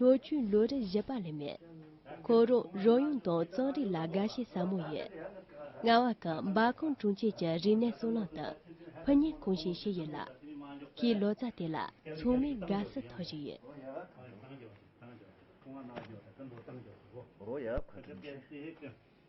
ལོ་རྒྱུས་ལོ་རེ་བཞི་པ་ལས་མེད། ཁོ་རང་རང་ཡུལ་དང་རྩོམ་རིག་ལ་དགའ་ཞེན་ཟབ་མོ་ཡོད། རྔ་བ་ཁང་འབའ་ཁོང་དྲུང་ཆེ་གྱི་རིག་གནས་གཙུག་ལག་དང་ཕུ་ཉེ་གུང་ཞེས་ཤི་ཡི་ལ། ཁྱིའི་ལོ་ཙཱ་དེ་ལ་མཚུངས་མེད་དགའ་བསུ་ཐོག་ཞིག་ཡོད། རོ་ཡ་ཁོང་དྲུང་ཆེ།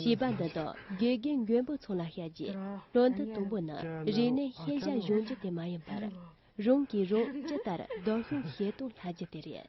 ཞེས་པ་འདི་དག་དགེ་རྒན་མགོན་པོ་ཚང་ལ་བཤད་རྗེས་དོན་དུ་དང་པོ་ནི་རིག་གནས་ཤེས་བྱ་གཞུང་རྒྱུ་དེ་མ་ཡིན་པར། རང་གིས་རང་ཇི་ལྟར་བདག་སྐྱོང་བྱེད་སྟངས་ལྷ་རྒྱུ་དེ་རེད།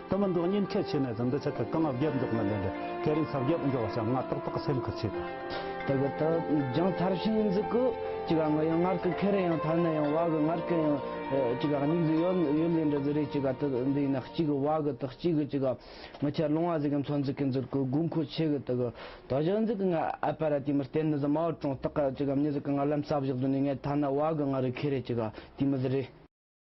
དུ་མི་འགྲོ་ཉེན་ཁས་ཆེ་ནས་ཟིན་འདི་ཆ་ཁད་དང་རྒྱབ་འཇོག་མི་ལེན་རེད་ཁས་རིན་ཚབ་རྒྱབ་འཇོག་བྱ་ང་ཏག་ཏག་སེམས་ཁུར་ཆེ་དང། དེ་གི་ཏུ་རྒྱང་ཐར་ཤིག་ཡིན་ཟིག་གུ་ཅི་ག་ང་ཡང་སྔར་གི་ཁས་རིན་ཡང་ཐར་ནས་ཡང་བ་གི་སྔར་གི་ཡང་ཅི་ག་སྙིགས་ཟིག་ཡོད་ཡོད་ལེན་འདྲི་ཟིག་རེད་ཅི་ག་ཏུ་འདི་ཡིན་ན་གཅིག་གི་བ་གི་ཏུ་གཅིག་གི་ཅི་ག་མི་ཁྱེར་ལོང་བ་ཟིག་གི་འཚོ་འཛུག་གི་འཛུར་གུ་དགོས་མཁོ་ཆེ་གི་ཏུ་གི་ཏུ་བཞག་འཛུག་གི་ང་ཨ་པ་ར་དེ་མི་བསྟེན་ནི་ཟིག་མའོ་ཀྲོང་ཏག་ཅི་ག་མྱི་ཟིག་གི་ང་ལམ་ས་བཞག་དུ་ནས་ངས་ཐ་ན་བ་གི་སྔར་གི་ཁས་རེད་ཅི་ག་དེ་མི་ཟིག་རེད།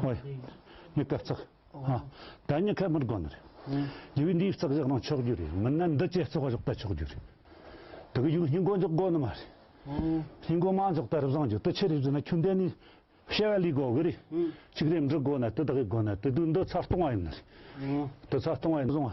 ཧོ། མྱི་ཀ་བརྩེགས། ཧ། ད་མྱི་ཁ་མིར་དགོ་ནི་རེད། རྒྱུ་བའི་འདིའི་བརྩེགས་བཞག་ནང་ཆོག་རྒྱུ་རེད་མིན་ན་འདི་བཅས་བརྩེགས་བཞག་ད་ཆོག་རྒྱུ་རེད། དེ་གི་ཡུལ་མྱི་མགོ་འཇོག་དགོ་ནི་མ་རེད། མྱི་མགོ་མ་འཇོག་ད་རིབ་བཟང་རྒྱུ་དེ་ཆེ་རིབ་ཟིན་ན་ཁྱོད་འདི་ནི། བཤད་བ་ལས་དགོ་གི་རེད། གཅིག་རེ་འབྲི་དགོ་ན་དེ་དག་གི་དགོ་ན་དེ་དུས་འདི་ཚར་སྟོང་བ་ཡིན་ནི་རེད། དེ་ཚར་སྟོང་བ་ཡིན་བཟང་བ།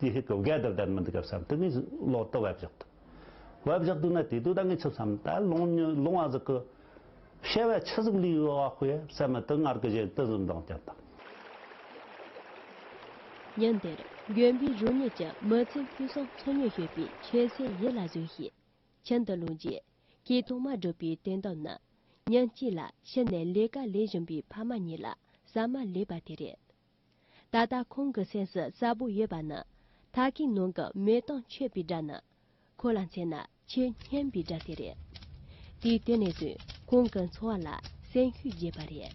དེའི་ཧེ་གོ་གས་དེར་བསྡད་མི་འདུག་ག་བསམ་དེ་ནས་ལོག་སྟེ་བབས་བཞག་འདུག། བབས་བཞག་འདུག་ན་དེ་དུས་ད་ངས་ཆུབ་བསམ་ད་ལོང་ཉི་ལོང་བ་ཟིག་གི། ཤེས་བས་ཆུ་ཟིག་ལུས་ཡོད་བ་ཧོས་བསམ་མི་དེ་སྔར་གི་བཞིན་དུ་འཛུམ་མདངས་བསྐྱེད་དང། ཉིན་དེར་གཡོན་པའི་རུ་གཉིས་ཀྱི་མི་ཚེ་འཕུལ་སོང་འཚོ་མྱོང་ཞུས་པའི་ཆོས་སྲས་ཡིད་ལ་བཟུང་ཞིང། ཁྱིམ་དུ་ལོངས་རྗེས་ཁྱི་དོག་མ་བསྒྲུབས་པའི་དོན་དག་ནི། ཉིན་གཅིག་ལ་ཕྱི་ནས་ལས་ཀ་ལས་བཞིན་པའི་ཕ་མ་གཉིས་ལ་ཟ་མ་ལས་པ་དེ་རེད། ད་ལྟ་ཁོང་གི་སེམས་སུ་གསལ་པོ་ཡོད་པ་ནི། ད་ཀའི་ནང་གི་མེ་དང་མཆོད་པའི་སྒྲ་ནི། ཁོ་ལ་མཚོན་ན་ཆེས་སྙན་པའི་སྒྲ་དེ་རེད། དེའི་ལྟེ་གནས་དུས་ཁོང་གི་འཚོ་བ་ལ་སེམས་ཤུགས་རྒྱས་པ་རེད།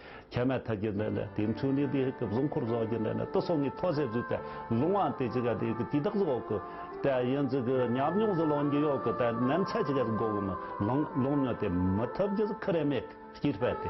ཁྱད་མེད་ཐབས་ཀྱི་ལས་ལ་དེ་མཚུངས་ནི་དེའི་སྐབས་གཟུངས་འཁོར་རྫོགས་ཀྱི་ལས་ནི་ཏུ་སོ་ངའི་ཐོ་ཟས་བརྫུས་ཏེ་ལུང་བ་དེ་ཅི་ག་དེ་གི་དུས་དག་གཟུགས་འོག་གི་དེ་ཡིན་ཚུལ་གྱི་ཉམས་མྱོང་གཟུགས་ལོང་གི་གཡོག་གི་དེ་ནམ་ཚད་ཅི་ག་གི་སྒོ་ཀུན་ལུང་མྱོང་སྟེ་མི་ཐུབ་རྒྱུ་ཁི་རེ་མེད་ཀྱི་དཔལ་ཏེ།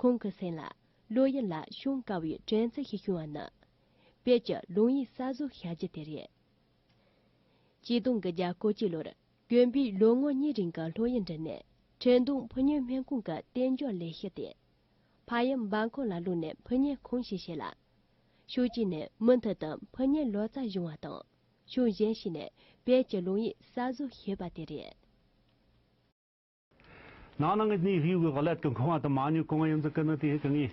ཁོང་གི་སེམས་ལ་བློ་ཡུལ་ལ་ཤོང་དཀའ་བའི་དྲན་ཚུལ་ཞིག་བྱུང་བ་ནི། བོད་ཀྱི་ལུང་ཡིག་གསར་བཟོ་བྱ་རྒྱུ་དེ་རེད། སྐྱིད་སྡོང་གི་རྒྱ་སྐོར་སྤྱི་ལོར་གྱོན་པའི་ལོ་ངོ་གཉིས་རིང་གི་ལྷོད་གཡེང་འགྲིལ་ནས་ཁྲེང་ཏུང་ཕུ་ཉོའི་སྨན་ཁང་གི་རྟེན་འབྱོར་ལས་བྱེད་དེ། ཕ་ཡི་འབའ་འཁོར་ལ་བླུགས་ནས་ཕུ་ཉའི་ཁང་ཞིག་བྱས་ལ། ཕྱོགས་གཅིག་ནས་མུ་མཐུད་དུ་ཕུ་ཉའི་ལོ་ཙཱ་སྦྱོང་བ་དང་ཕྱོགས་གཞན་ཞིག་ནས་བོད་ཀྱི་ལུང་ཡིག་གསར་བཟོ་བྱེད་པ་དེ་རེད། ནང་ནང་གི་གནས་ཡུལ་གྱི་བག་ལེབ་ཏུ་འཁོར་བ་དང་མང་ཉུང་གང་ཡོད་འཛིན་གྱི་ནི་དེའི་གང་ངེས་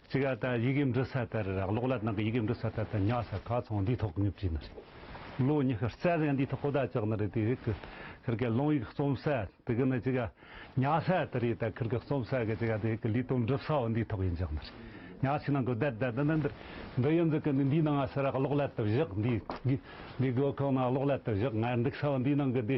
ཅི་ག་དང་ཡི་གེ་འབྲི་ས་ལྟར་རག་ལོག་ལ་ནང་གི་ཡི་གེ་འབྲི་ས་ལྟར་དང་ཉག་ས་ག་ཚང་འདིའི་ཐོག་ངེས་བྲིས་ནི་རེད། ལོ་ཉི་ཤུ་རྩ་གཞན་འདིའི་ཐོག་གོ་བརྡ་བཅག་ནི་རེད་དེ་ཡི་གེ་གི་ལུང་ཡིག་རྩོམ་ས་དེ་གི་ནི་ཅི་ག་ཉག་ས་དེ་རེད་ད་གི་གི་རྩོམ་ས་གི་ཅི་ག་དེ་ཡི་གེ་ལུས་དོན་འགྲུབ་ས་འོ་འདིའི་ཐོག་ཡིན་བཞག་ནི་རེད། ཉག་ཆུའི་ནང་གི་བརྡ་དེ་འདི་འདི་འདི་ཡིན་འཛིན་གྱི་ནི་འདིའི་ནང་ང་ས་རག་ལོག་ལ་དུ་བཞག་འདིའི་འདིའི་སྒོ་ཁང་ནང་ལོག་ལ་དུ་བཞག་ང་འགྲིག་ས་འོ་འདིའི་ནང་གི་འདི་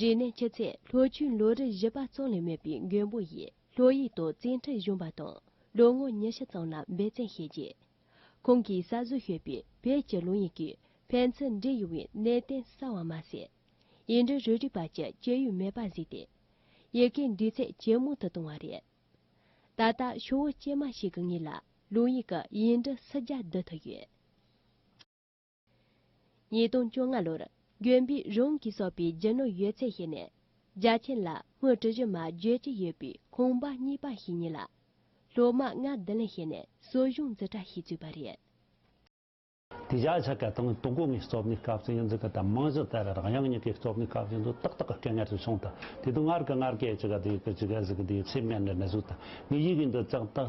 རིག་གནས་ཆུ་ཚད་ལྷོ་ཆུའི་ལོ་རེར་བཞི་པ་ཙམ་ལས་མེད་པའི་མགོན་པོ་ཡི་ལྷོ་ཡིག་ཏུ་བཙན་ཁྲིད་གཞོན་པ་དང་ལོ་ངོ་ཉི་ཤུ་ཙམ་ལ་འབད་བརྩོན་བྱས་རྗེས། ཁོང་གིས་གསར་བཟོ་ཞུས་པའི་བོད་ཀྱི་ལུང་ཡིག་གི་ཕན་ཚུན་འབྲེལ་ཡོད་པའི་གནད་དོན་གསལ་བ་མ་ཟད། ཡིག་འབྲུ་རུ་སྒྲིག་པ་བཅས་སྤྱོད་ཡུལ་མེད་པར་གཟིགས་ཏེ། ཡི་གེའི་འདུས་ཚད་ཇེ་མང་དུ་བཏང་བ་རེད། ད་ལྟ་ཆུ་བོ་སྐྱེས་མ་ཞིག་གི་ངོས་ལ་ལུང་ཡིག་གི་ཡིག་འབྲུ་སུ་བརྒྱ་བསྡུ་ཐུབ་ཡོད། ཉིས་སྟོང་བཅོ་ལྔ་ལོར་གཡོན་པས་རང་གིས་གསོག་པའི་རྒྱུ་ནོར་ཡོད་ཚད་བཤད་ནས་རྒྱ་ཆེན་ལ་དངུལ་ཁྲི་བཞི་མ་བརྗོད་ཀྱི་ཡོད་པའི་ཁང་པ་གཉིས་པ་ཞིག་ཉོས་ལ། སློབ་མ་ལྔ་བདུན་ལས་བྱས་ནས་གསོ་སྦྱོང་རྩིས་ཁྲ་ཞིག་བཙུགས་པ་རེད། དེ་རྒྱ་ཆེ་གེ་དང་དུག་སྒོ་ངའི་གཙོ་བདག་སྐབས་སུ་ཡིན་ཚུལ་གྱི་དང་རྨང་གཞི་བཙལ་བའི་རང་དབྱངས་གཉིས་ཀའི་གཙོ་བདག་སྐབས་ཡིན་ཚུལ་ཏག་ཏག་གི་སྐད་ངན་ཞིག་བྱུང་སྟེ་དེ་དུས་སྔར་གྱི་སྔར་སྐད་ཅིག་ག་དུས་ཀྱི་ཅིག་ག་ཟིག་གི་དུས་ཚིགས་མེད་ནས་ནི་ཟུག་སྟེ་ངའི་ཡིད་ཀྱི་འདི་ཙག་ཏག་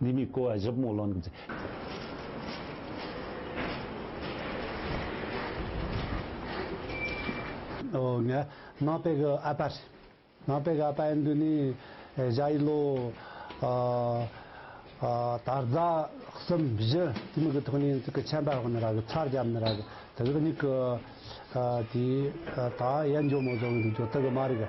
འདི་མི་བཀོལ་བ་བཞི་པོ་ལོན་དགོས་ཏེ། ནང་པའི་གི་ཨ་པ། ནང་པའི་གི་ཨ་པ་ཡིན་དུས་ནི་བཞག་ཡིན་ལོ། དར་རྫ་གསུམ་བཞི་དེ་མི་གི་ཐོག་ནས་ཚིག་གི་ཆན་པ་ཧོན་ནི་ར་གི་ཚར་རྒྱབ་ནི་ར་གི་དེ་གི་མྱིག་གི། དེ་ད་ཡན་འཇོ་མོ་བཟོ་གི་འདུག་ཇོ་དི་གི་མ་རིག་གི།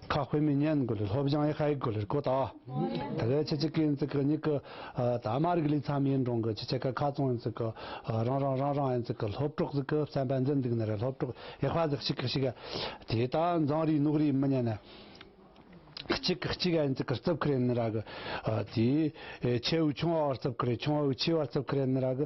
ཁ་དཔེ་མི་སྙན་དགོས་ལེར་ལྷོ་བྱང་ཡེ་ཤ་ཡིག་དགོས་ལེར་གོ་ལྟ། དེ་གའི་ཁྱི་གཅིག་གི་ཡིན་ཚིག་གི་གཉིས་ཀྱི། ད་དམར་རིགས་ལུས་འཚམས་ཡིན་འབྲོང་གི་ཁྱི་ཕྱེད་ཀ་ཁ་བཙོང་ཡིན་ཚིག་གི། རང་རང་རང་རང་ཡིན་ཚིག་གི་ལྷོ་ཕྲོག་ཟིག་གི་བསམ་པ་འཛིན་འདུག་ནི་རེད་ལྷོ་ཕྲོག་ཡེ་ཤ་ཟིག་ཤིག་གི་ཤིག་གི། དེ་ད་མཛངས་རིས་ནུག་རིས་མི་སྙན་ནི། གཅིག་གི་གཅིག་ག་ཡིན་ཚིག་གི་རྩིབས་ཁུ་རེད་ནི་ར་གི། དེའི། ཁྱེའུ་ཆུང་བ་བར་རྩིབས་ཁུ་རེད་ཆུང་བའུ་ཆེའི་བར་རྩིབས་ཁུ་རེད་ནི་ར་གི།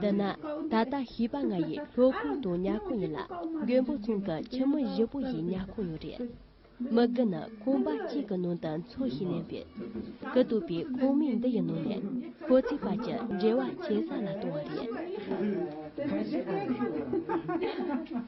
འདི་ན་ད་ལྟ་ཤེས་པ་ང་ཡི་ལྷོ་ཁུག་ཏུ་ཉལ་ཁོ་ཡིན་ལ་མགོན་པོ་ཚང་གི་ཁྱིམ་མི་བཞི་པོ་ཡིས་ཉལ་ཁོ་ཡོད་རེད། མི་དགུ་ནི་ཁོང་པ་གཅིག་གི་ནང་དུ་འཚོ་ཞེས་ལན་པས། གི་བཏུབ་པའི་ཁོངས་མི་འདི་ཡི་ནང་ནས་ཁོ་ཚོའི་བར་གྱི་འབྲེལ་བ་ཇེ་ཟབ་ལ་གཏོང་བ་རེད།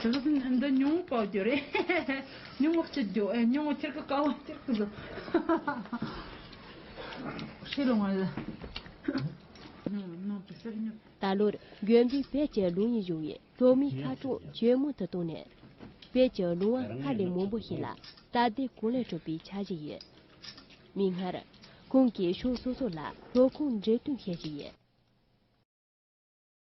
ད་ལོར་གྱོན་པའི་བེད་ཀྱི་ལུང་ཡིན་བཞུགས་ཡིན་ལྷོ་མིའི་ཁ་གྲངས་ཇེ་མང་དུ་བཏང་ནས། བེད་ཀྱི་ལུང་བ་སྔར་ལས་མང་པོ་ཞིག་ལ་སྟབས་བདེ་གང་ལེགས་སྤྲོད་པའི་འཆར་གཞི་ཡིན། མིག་སྔར། ཁོང་གིས་ཕྱོགས་སོ་སོ་ལ་ལྷོ་ཁུངས་འབྲེལ་མཐུད་བྱེད་བཞིན་ཡོད།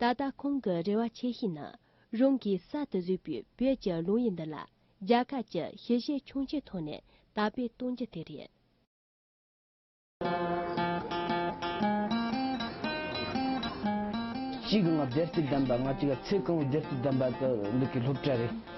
ད་ལྟ་ཁོང་གི་རེ་བ་ཆེ་ཤོས་ནི་རང་གིས་གསར་དུ་བཟོས་པའི་བོད་ཀྱི་ལུང་ཡིག་འདི་ལ་རྒྱ་གར་གྱི་ཤེས་བྱའི་ཁྱུང་ཆེན་ཐོག་ནས་དར་སྤེལ་གཏོང་རྒྱུ་དེ་རེད། གཅིག་ལྔ་བརྒྱད་བརྩེགས་བདམས་པ་ལྔ་གཅིག་ལ་ཚེས་གང་བོ་བརྒྱད་བརྩེགས་བདམས་པ་འདི་གའི་སློབ་གྲྭ་རེད།